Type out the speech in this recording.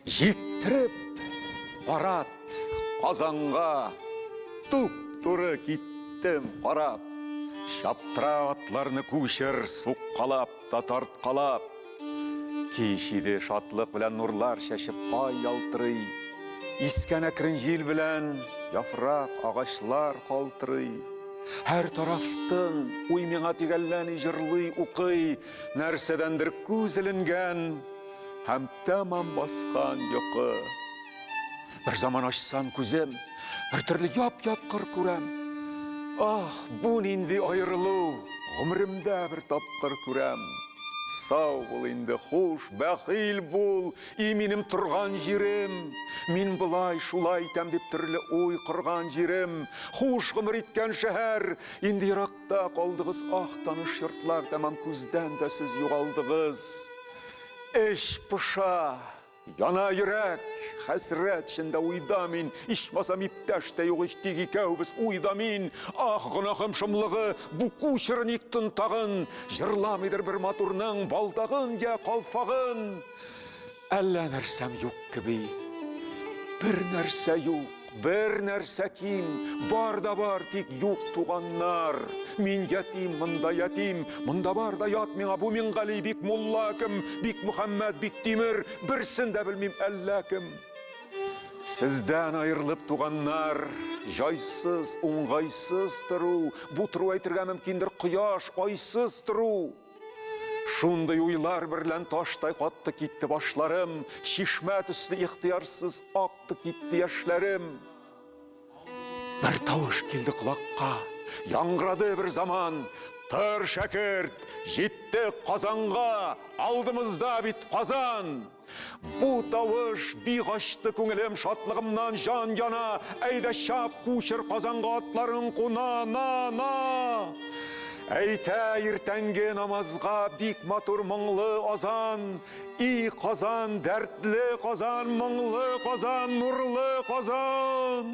Җиттереп барат Казанга туп туры киттем карап. Чаптыра атларны күчер суккалап. та тарткалап. Кич иде, шатлык белән нурлар чәчеп ай ялтырый. Искән әкрен җил белән яфрак, агачлар калтырый. Һәр тарафтын уй миңа тигәлләни, җырлый, укый, нәрсәдәндер күз эленгән һәм тәмам баскан йокы. Бер заман ачсам күзем, бер төрле яп-яткыр күрәм. Ах, бу нинди аерылу, гомеремдә бер тапкыр күрәм. Сау бул инде, хуш, бәхил бул, и минем торган җирем. Мин болай, шулай итәм дип төрле уй корган җирем. Хуш гомер иткән шәһәр, инде еракта калдыгыз, ах, таныш йортлар, тәмам күздән дә сез югалдыгыз. Эч поша. Яна йөрәк, хәсрәт эчендә уйда мин, Ичмасам иптәш тә юк ич, тик икәүбез уйда мин. Ах, гөнаһым шомлыгы, бу кучеры ник тын тагын, Җырламыйдыр бер матурның балдагын йә калфагын. Әллә нәрсәм юк кеби, бер нәрсә юк. Бер нәрсә ким, бар да бар, тик юк туганнар. Мин ятим, монда ятим, монда бар да ят миңа, бу Мингали, бик мулла кем, бик Мөхәммәд, бик Тимер, берсен дә белмим әллә кем. Сездән аерылып туганнар, җайсыз, уңгайсыз тору, бу тору әйтергә мөмкиндер, кояш, айсыз тору. Шундый уйлар берлән таштай катты китте башларым, чишмә төсле ихтыярсыз акты китте яшьләрем. Бер тавыш килде колакка, яңгырады бер заман. Тор, шәкерт, җиттек Казанга, алдымызда бит Казан! Бу тавыш бик ачты күңелем шатлыгымнан җан яна. Әйдә чап, кучер Казанга атларын куна, на, на! Әйтә иртәнге намазга бик матур моңлы азан. И Казан, дәртле Казан, моңлы Казан, нурлы Казан!